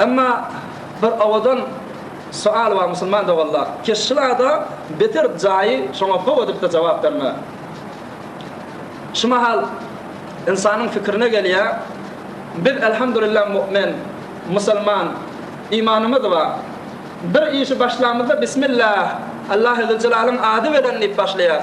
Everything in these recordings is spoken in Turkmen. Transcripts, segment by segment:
Emma bir owadan soal bar musulman doganlar, keşşilada beter jaýy şoňa how edipde jogap berme. Şu mahal ynsanyň fikirine gelýä, biz elhamdulillah mu'min, musulman, imanymyz bar. Bir işi başlamyzda bismillah, Allahy zülcelalyň ady bilen diýip başlaýas.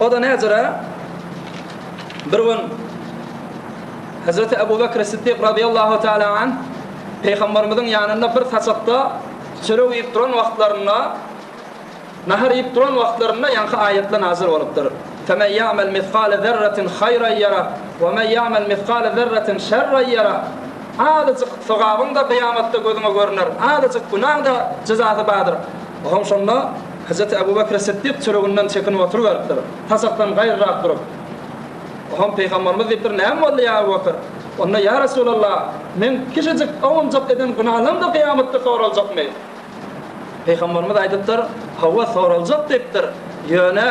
O-da näzire, bir gün Hezreti Ebu Bekr Siddik radiyallahu teala anh Peygamberimiziň ýanynda bir saçakda çörek iýip duran wagtlarynda, nahar iýip duran wagtlarynda ýaňky aýatlar nazil bolupdyr. Femen ýa'mel misgale zerretin haýran ýara we men ýa'mel misgale zerretin şerran ýara. Azajyk sogabyň-da gyýamatda gözüňe görüner, azajyk günäň-de jezasy bardyr. Oňa şonda Hajat Ebu Bekr Siddik çöreginden çekinip oturyberipdir. Tasakdan gaýrarak durup, Ohoň Pygamberimiz diýipdir, Näme boldy, ýa Ebu Bekr? Onda, Ýa Resulallah, meň kişijik owunjak eden günalaryň-da kyýamatda soraljakmy? Pygamberimiz aýdypdyr, Hawa, soraljak diýipdir. Ýöne,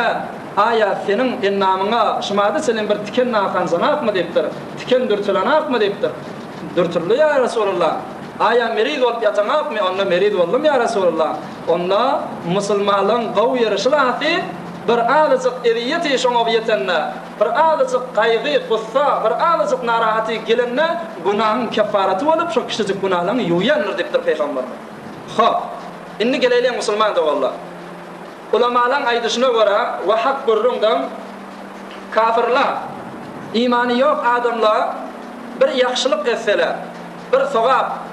Aýa, seniň endamyňa şumada çenli bir tiken nakanjanakmy? diýipdir. Tiken dürtülenakmy? diýipdir. Dürtüldi, ýa Resulallah. Aýa, meriz bolup ýataňakmy? Onda, Meriz boldum, ýa Resulallah. Onda musulmanlygyň gowy ýeri şulatdy, bir azajyk ezýeti şoňa ýetende, bir azajyk gaýgy, gussa, bir azajyk narahaty gelende günahyň keffaraty bolup şo kiçijik günalaryňy ýuwýandyr diýipdir Pygamberimiz. Hop, indi geleýliň musulman doganlar. Ulamalaryň aýdyşyna görä, wahap gürrüň deň, kafirler, imany ýok adamlar bir ýagşylyk etseler, bir sogap,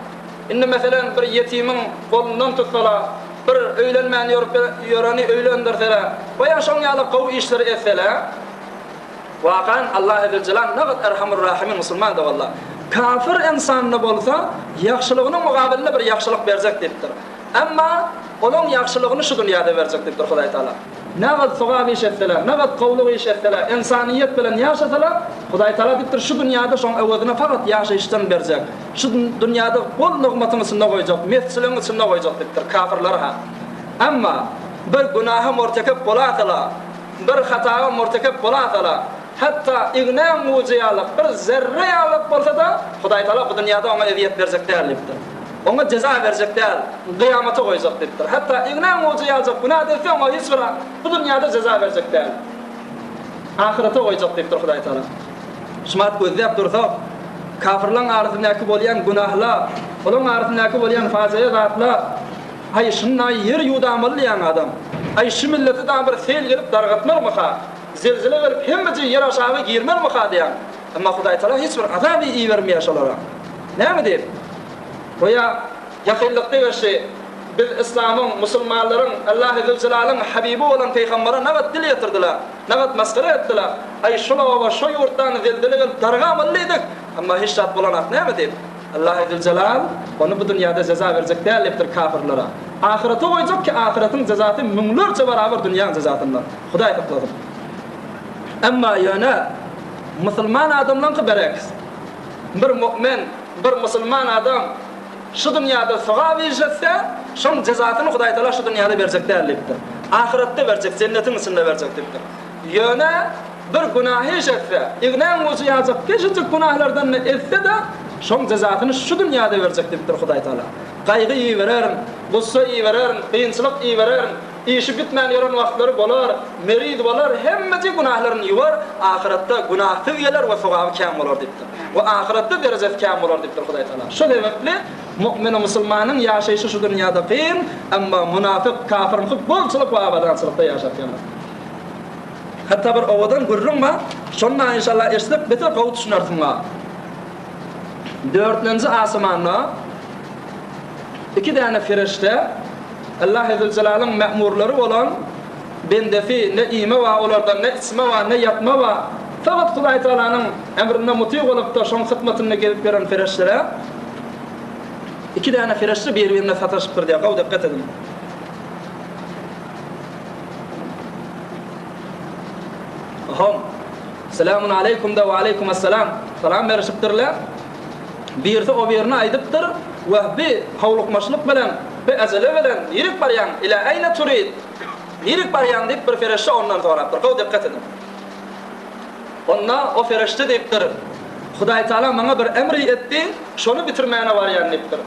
Indi meselem bir ýetimiň golundan tutsalar, bir öýlenmän ýörüp ýöreni öýlendirseler, we ýa şoň ýaly gowy işleri etseler, wakan Allah Ezeljelal nagat Erhamur Rahimiň musulmandy walla. Kafir ynsanda bolsa ýagşylygynyň mugabylynda bir ýagşylyk berjek diýipdir. Emma olaň ýagşylygyny şu dünýäde berjek diýipdir Hudaý Taala. Nagat sogap iş etseler, nagat gowlyk iş etseler, ynsanyýet bilen ýaşasalar, Hudaý Taala diýipdir şu dünýäde şoň öwezini fakat ýaşaýyşdan berjek. Şu dünýäde bol nygmatyň içinde goýjak, mesçiligiň içinde goýjak diýipdir, kafirler-ha. Emma bir günaha mortekep bolasa-la, bir hataga mortekep bolasa-la, hatda ignäň gujy ýalak, bir zerre ýalak bolsa-da, Hudaýtagala bu dünýäde oňa ezýet berjek däl diýipdir. Oňa jeza berjek däl, kyýamata goýjak diýipdir. Hatda ignäň gujy ýaljak günäde etse, oňa hiç bir bu dünýäde jeza berjek däl. Ahyrete goýjak diýipdir Hudaýtagala. Şymat gözläp dursak, kafirlaň arasyndaky bolýan günahlar, olaň arasyndaky bolýan fajyga zatlar, Aý, şunda-aý ýer ýuwdamalydyýan adam. Aý, şu millete dagy bir sel gelip dargatmarmyka? Zelzele gelip hemmeje ýer aşagy girmermika diýýän. Emma Hudaýtagala hiç bir azaby ibermeýär şolara. Näme diýip? Goýa jahylykda geçdi. Biz yslamyň, musulmanlaryň, Allahy Zülzelalyň habibi bolan pygambere nabat dil ýetirdiler. Nagat masgara etdiler. Aý, şol oba, şo ýurtdan zelzele gelip darga boldy diýdik. Emma hiç zat bolanok näme diýip. Allahy Züljelal ony bu dünýäde jeza berjek däl diýipdir kapyrlara. Ahyrete goýjak ki, ahyretyň jezasy müňlerçe barabar dünýäň jezasyndan. Hudaý saklasyn. Emma ýöne musulman adamlaňky berekis. Bir mu'min, bir musulman adam. Şu dünýäde sogap iş etse, şoň jezasyny Hudaý Taala şu dünýäde berjek däl diýipdir. Ahyretde berjek, jennetiň içinde berjek diýipdir. Ýöne bir günah iş etse, ignäň ujy ýaljak kiçijik günahlardan-da etse-de, şoň jezasyny şu dünýäde berjek diýipdir Hudaý Taala. Gaýgy ibererin, gussa ibererin, kynçylyk ibererin. Işi bitmän ýören wagtlary bolar, meriz bolar, hemmeje günählerini ýuwar, ahyratda günähsiz geler we sogaby kän bolar diýipdir. We ahyratda derejesi kän bolar diýipdir Hudaýtagala. Şo sebäpli mu'mini musulmanyň ýaşaýşy şu dünýäde kyn, emma munafyk, kafir muky bolçulyk we abadançylykda ýaşap ýanar. Hatda bir owadan gürrüň bar, şonda inşallah eşitsek beter gowy düşünersiňa. Dörtlenji asmanda iki däne ferişde, Illahi Züljelaliň mämurlary bolan bendesi ne iýme bar olarda, ne içme bar, ne ýatma bar. Faghat Hudaý Tagalanyň emrine muty bolup-da şoň hyzmatynda gezip ýören pereşdeler. Iki däne pereşde bir-birine sataşypdyr diýýär, gowy dikgat ediň. Hom. Selämun aleýkum-da we aleýkum-es-selam. Salam berişipdirler. Birisi o birini aýdypdyr, Wah, bi howlukmaçlyk bilen, bi äjele bilen nirik barýaň, ilä äýne turid! Nirik barýaň? diýip, bir fereşde ondan sorapdyr. Gowy dikkat ediň. Onda o fereşde diýipdir, Hudaýtagala maňa bir emri etdi, şony bitirmäne barýan diýipdir.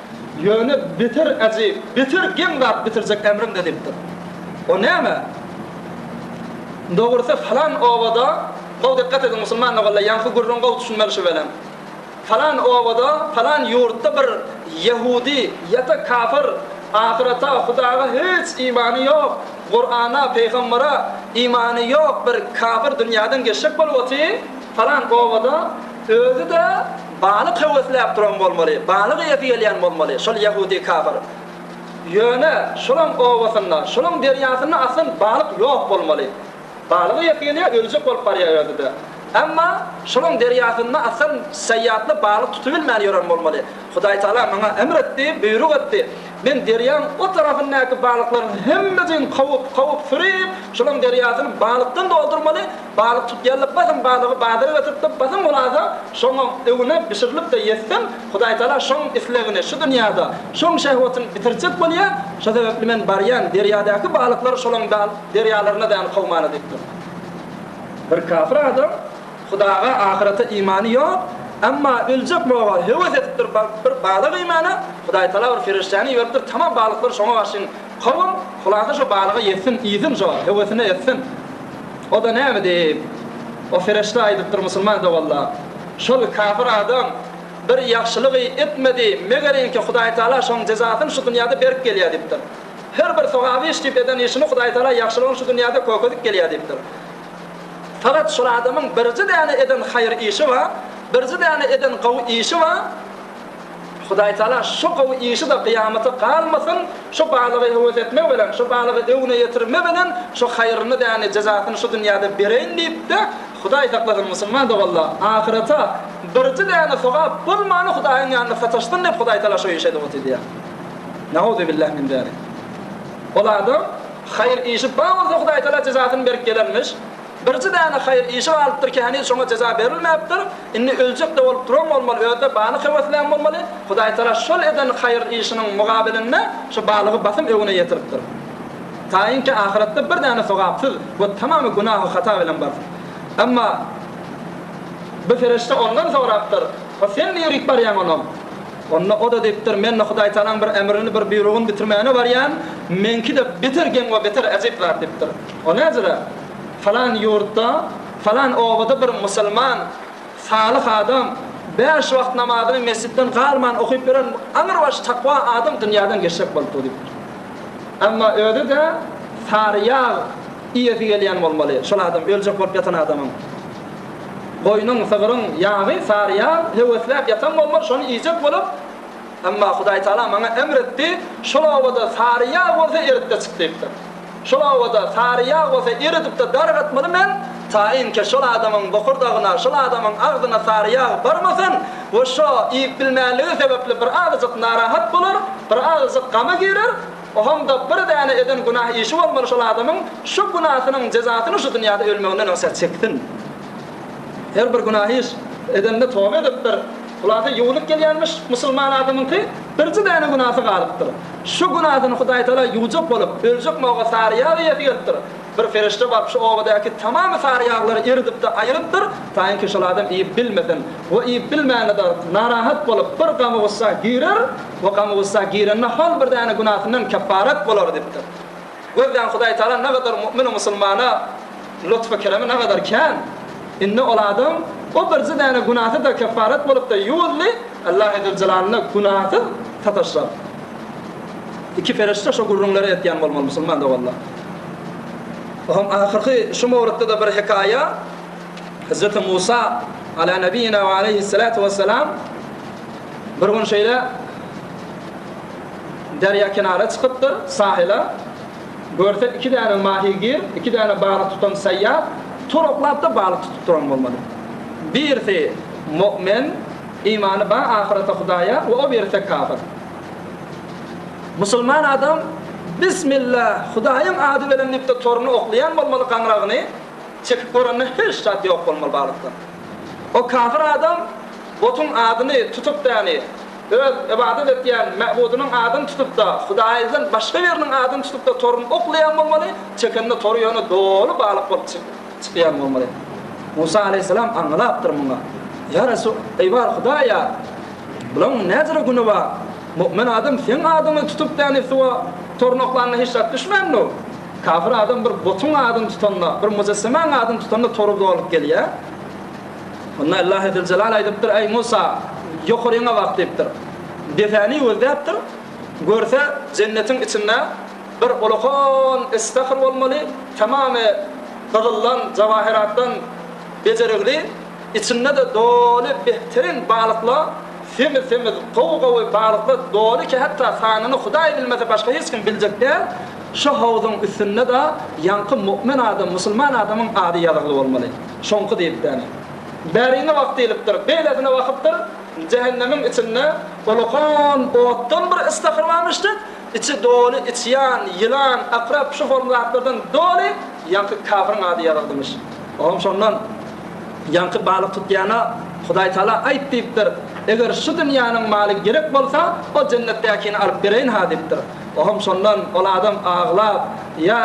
Ýöne beter äjip, beter geň zat bitirjek emriňde diýipdir. O näme? Dogrusy, falan obada, gowy dikkat ediň, musulman doganlar, ýaňky gürrüň gowy düşünmeli şu welin. Palan obada, palan ýurtda bir ýahudi ýa-da kafir ahyreta, Hudaga hiç imany ýok, Kurana, pygambere imany ýok bir kafir dünýäden geçjek bolup otyr, palan obada özi-de balyk höwesläp duran bolmaly, balyk iýesi gelýän bolmaly şol ýahudi kafir. Ýöne şolaň obasynda, şolaň derýasynda aslan balyk ýok bolmaly. Balyk iýesi gelýär, öljek bolup barýaberdi-de. Emma şolaň derýasynda Asan Saýatly balyk tutubilmän ýören bolmaly. Hudaýtagala maňa emr etdi, buýruk etdi. Men derýaň o tarapyndaky balyklaryň hemmejigini kowup, kowup, süri-ip, şolaň derýasyny balykdan doldurmaly, balyk tutýarlar, basym balygy bazara götüripdir, basym hulasa, şoňa öwünip, bişirilip-de ýetsem, Hudaýtagala şoň islegini, şu dünýäde şoň şehwetini bitirjek bolýar, şo sebäpli men barýan, derýadaky balyklar şolaň Derýalaryna däl kowmana diýipdir. Bir kafir adam Hudaga, ahyrete imany ýok, emma öljek boga höwes edipdir bir balyk iýmäne, Hudaýtagala bir perişdäni iberipdir, tamam balyklary şoňa garşyň kowuň, hulasa şo balygy ýesin, iýsin şo, höwesine etsin. O-da näme diýip, o perişde aýdypdyr musulman doganlar, Şol kafir adam bir ýagşylygy etmedi, meger inki Hudaýtagala şoň jezasyny şu dünýäde berip gelýär diýipdir. Her bir sogaby iş diýip eden işini Hudaýtagala ýagşylygyň şu dünýäde kökezip gelýär diýipdir. Fakat şol adamyň birji däne eden haýyr işi bar, birji däne eden gowy işi bar. Hudaýtagala şo gowy işi-de gyýamata galmasyn, şo balygy höwes etme bilen, şo balygy öwne ýetirme bilen şo haýyrny däni, jezasyny şu dünýäde bereýin diýip-de, Hudaý saklasyn, musulman doganlar, ahyrete birji däne sogap bolmany Hudaýyň ýanynda sataşsyn diýip Hudaýtagala şo işe dogrudy edýär. Nauzubillah min zalik. Ol adam haýyr işi bar bolsa Hudaý Taala jezasyny berip gelermiş. Birji däne haýyr işi galypdyr ki heniz şoňa jeza berilmäpdir. Indi öljekde bolup duran bolmaly özde balyk höweslän bolmaly. Hudaý Taala şol eden haýyr işiniň mugabelinde şu balygy basym öwüne ýetiripdir. Taýyn ki ahyretde bir däne sogapsyz we tamamy günahy hata bilen barsyn. Emma bir fereşte ondan sorapdyr, Ho sen niýrik barýaň onam? Onda o-da diýipdir, Men-de Hudaýtagalaň bir emrini, bir buýrugyny bitirmäne barýan, meňki-de beter geň we beter ejep zat, diýipdir. O näzire, Falan ýurtda, falan obada bir musulman, salyh adam, bäş wagt namazyny mesjitden galman okyp ýören aňrybaş takwa adam dünýäden geçjek bolupdyr, diýipdir. Emma özi-de sary ýag iýesi gelýän bolmaly, şol adam, öljek bolup ýatan adamyň. Goýnuň, sygryň ýagy sary ýag, höwesläp ýatan bolman şony iýjek bolup, emma Hudaý Tagala maňa emr etdi, Şol obada sary ýag bolsa erit-de çyk diýipdir. Şol obada sary ýag bolsa eridip-de dargatmaly men, taýynki şol adamyň bokurdagyna, şol adamyň agzyna sary ýag barmasyn we şo iýip bilmänligi sebäpli bir azajyk narahat bolar, bir azajyk gama girer, Oňa-da bir däne eden günah işi bolmaly şol adamyň şu günasynyň jezasyny şu dünýäde ölmeginden öňse çeksin. Her bir günah iş edende toba edip bir hulasa ýuwunyp gelýärmiş musulman adamyňky birji däne günasy galypdyr. Şu günasyny Hudaýtagala ýuwjak bolup öljek mawa sary ýag iýesi gelipdir. Bir ferişde baryp şu obadaky tamamy sary ýaglary eridipde aýyrypdyr, taýynki şol adam iýip bilmesin we iýip bilmände dagyp, narahat bolup bir gamy-gussa girer we gamy-gussa girende hol bir däne günasyndan kepparat bolar dipdir. Gözläň Hudaý Tagala nagadar mu'mini musulmana lutfy keremi nagadar kän. Indi ol adam o birji däne günasy-da kepparat bolupdy, ýuwuldy, Allahy Züljelal-na günasyz sataşar. Iki ferişde şo gürrüňleri etýän bolmaly musulman doganlar. Ohoň ahyrky şu mowrutda-da bir hekaýa, Hezreti Musa Ala Nebiyina we Aleyhissalatu Vesselam bir gün şeýle derýa kenara çykypdyr, sahila, görse iki däne mahigir, iki däne balyk tutan saýýat turaklap-da balyk tutup duran bolmaly. Birisi mu'min, imany bar ahyrete, Hudaýa we o birisi kafir. Musulman adam Bismilla, Hudaýyň ady bilen diýipdir toruny oklaýan bolmaly gaňragyny çekip görende hiç zat ýok bolmaly balykdan. O kafir adam botuň adyny tutup däni öz ybadat etýän mäbudynyň adyny tutupda Hudaýdan başga biriniň adyny tutupda toruny oklaýan bolmaly çekende tory ýöne doly balyk bolup çykýan bolmaly. Musa aleýhissalam aňlapdyr muňa. Ýa Resul, eý bar Hudaýa! Bulaň näzire güni bar? Mu'min adam seň adyňy tutup däni suwa tornaklanda hiç zat düşmänmi? Kafir adam bir butuň adyny tutanda, bir mujessimäň adyny tutanda tory dolup gelýä. Onda Illahi Züljelal aýdypdyr, Eý Musa, ýokaryňa bak diýipdir. Depäni gözläpdir. Görse, jennetiň içinde bir ulakan istahr bolmaly, tamamy gyzyldan, jawahyratdan bejerigli. Içinde-de doly behtirin balyklar, semiz-semiz, gowy-gowy balyklar doly ki hatda sanyny Hudaý bilmese başga hiç kim biljek däl, şu howzuň üstünde-de ýaňky mu'min adam, musulman adamyň ady ýazygly bolmaly. Şoňky diýlipdäne. Bäriňe bak diýlipdir, beýlesine bakypdyr, jähennemiň içinde olakan otdan bir ystahyr barmyş dek, içi doly içýan, ýylan, akrep, şu formy zatlardan doly, ýaňky kafiriň ady ýazyldymyş. Ogam şondan, Ýaňky balyk tutýana Hudaý Tala aýt diýipdir, Eger şu dünýäniň maly gerek bolsa, o jennetdäkini alyp bereýin-ha diýipdir. Ogam şondan ol adam aglap, Ýa,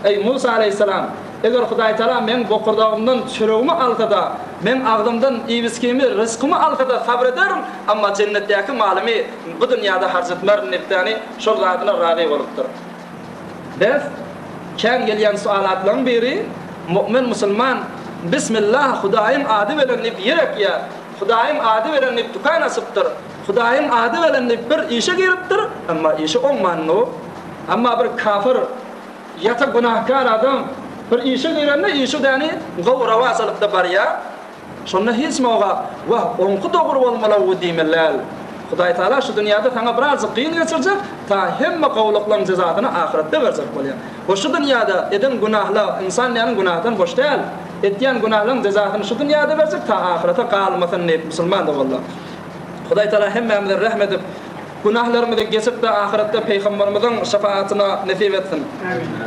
eý, Musa aleýhissalam, eger Hudaý Tala meň bokurdagymdan çöregimi alsa-da, meň agzymdan iýibiskimi, ryzkymy alsa-da sabyr ederin, emma jennetdäki malymy bu dünýäde harç etmerin diýipdäni, şol zadyna razy bolupdyr. Bes, kän gelýän sualatlaň biri, Mu'min musulman Bismillah Hudaýyň ady belen diýip ýer ekýär, Hudaýyň ady belen diýip dükan açypdyr, Hudaýyň ady belen diýip bir işe giripdir, emma işi oňmandyr. Emma bir kafir, ýata günahkar adam bir işe girende işi däni gowy rawa salykda barýar. Şonda hiç noga, Wah, oňky dogry bolmaly-ow diýmeli däl. Hudaý Taala şu dünýäde saňa birazjyk kyn geçirjek, ta hemme gowulyklaryň jezasyny ahyretde berjek bolýar. We şu dünýäde eden günahla, ynsan diýeniň günahdan boş däl. Etýän günahlyň jezasyny şu dünýäde berjek, ta ahyrete galmasyn diýip, musulman doganda. Hudaý Taala hemmämize rehm edip, günahlarymyzy geçip-de ahyretde Pygamberimiziň şepahatyna nesip etsin. Amin.